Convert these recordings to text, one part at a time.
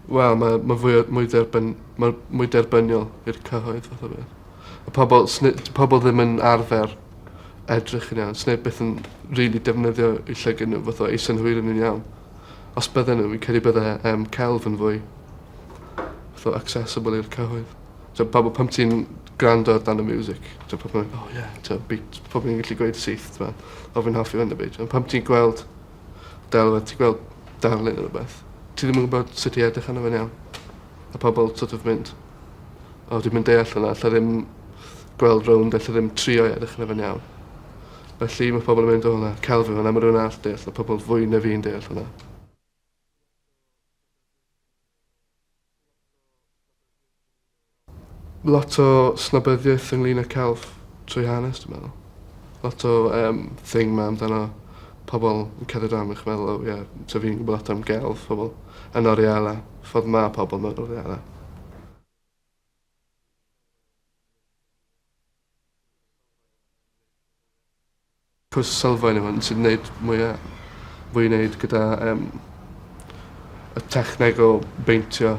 Wel, mae, mae fwy, mwy, derbyn, mae mwy derbyniol i'r cyhoedd fath o beth. Y pobl, pobl ddim yn arfer edrych yn iawn. Sneb byth yn rili really defnyddio i llygyn nhw fath o eiso'n hwyr yn iawn. Os bydden nhw, fi'n credu bydde um, celf yn fwy fath o accessible i'r cyhoedd. T'o' pawb a pam ti'n grando ar dan y miwsic t'o' pobol yn myn' o ie t'o' beat pobol yn gallu gweud syth t'mo'? O fi'n hoffi 'wn 'efyd. On' pam ti'n gweld delwedd ti gweld darlun ne' rwbeth ti ddim yn gwbod sut i edrych arno fe'n iawn. Ma' pobol so't of mynd o dwi'm yn deall wnna alla ddim gweld rownd alla ddim trio i edrych arno fe'n iawn. Felly ma' pobol yn mynd o na celf yw wnna ma' rywun arall deall ma' pobol fwy na fi'n deall hwnna. Lot o snobyddiaeth ynglŷn â celf trwy hanes dwi meddwl. Lot o yym thing 'ma amdano pobol yn cerdded rownd a chi meddwl o ie so fi'n gwbo lot am gelf pobol yn Oreala. Ffordd ma' pobol mewn Oreala. Pwys sylfaen yw hwn sy'n neud mwya fwy i neud gyda yym y techneg o beintio.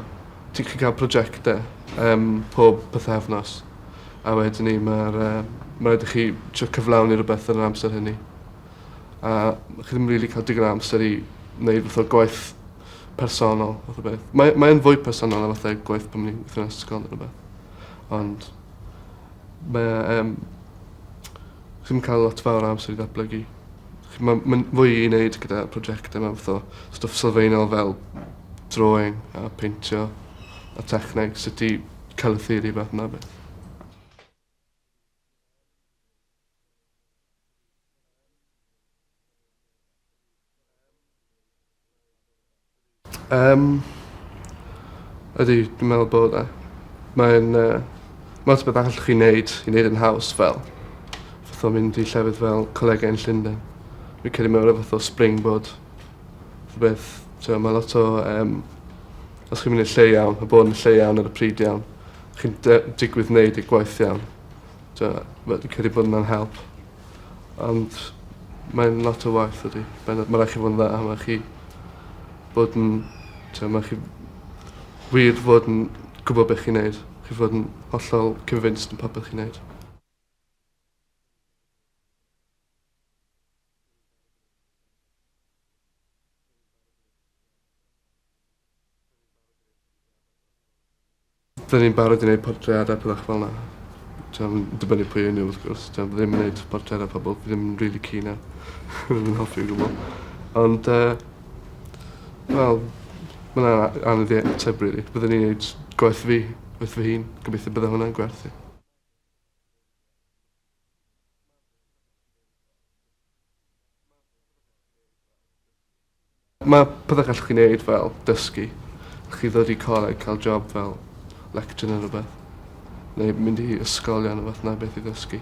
Ti'n gallu ca'l projecte yym pob pythefnos a wedyn 'ny ma'r yy ma' raid i chi trio cyflawni rwbeth yn yr amser hynny. A chi ddim rili ca'l digon o amser i neud fath o gwaith personol fath o beth. Mae mae yn fwy personol na fatha gwaith pan o'n i'n gweitho yn ysgol ne' rwbeth ond Mae e yym chi'm ca'l lot fawr o amser i ddatblygu. Chi ma' ma'n fwy i neud gyda projecte math o stwff sylfaenol fel drawing a peintio a techneg sut i colour fath 'na beth. Yym, ydy, dwi'n meddwl bod e. Mae'n yy ma' lot o betha allwch chi neud i neud e'n haws fel fatha mynd i llefydd fel Colegau yn Llunden. Fi'n credu mae o ryw fath o springboard fath o beth t'mo' ma' lot o yym os chi'n myn' i'r lle iawn ma' bod yn y lle iawn ar y pryd iawn chi'n dy- digwydd neud y gwaith iawn. T'wo' ma' fi'n credu bod wnna'n help. Ond mae'n lot o waith dydi? Bendant. Ma' rai' chi fod yn dda a ma' rai' chi bod yn t'o' ma' rai' chi wir fod yn gwbo be' chi'n neud. Chi fod yn hollol convinced yn popeth chi'n neud. Dyn ni'n barod i neud portreada pethach fel 'na. T'mo' yn dibynnu pwy yw n'w wrth gwrs t'mo' fi ddim yn neud portreada pobol fi ddim rili keen ar ddim yn hoffi o gwbwl. Ond yy wel ma' wnna a- anodd i ateb rili. Byddwn i'n neud gwaith fi gwaith fy hun. Gobeithio bydda hwnna'n gwerth i. Ma' pethe gallwch chi neud fel dysgu. Allwch chi ddod i coleg ca'l job fel lecturer ne' rwbeth. Neu mynd i ysgolion a fath 'na beth i ddysgu.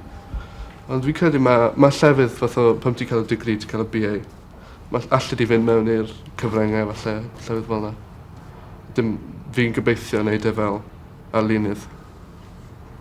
Ond fi'n credu ma' ma' llefydd fath o pan ti'n ca'l y degree ti'n ca'l y Bee Ay ma' all- allet ti fynd mewn i'r cyfrynge falle llefydd fel 'na. Dim fi'n gobeithio neud e fel arlunydd.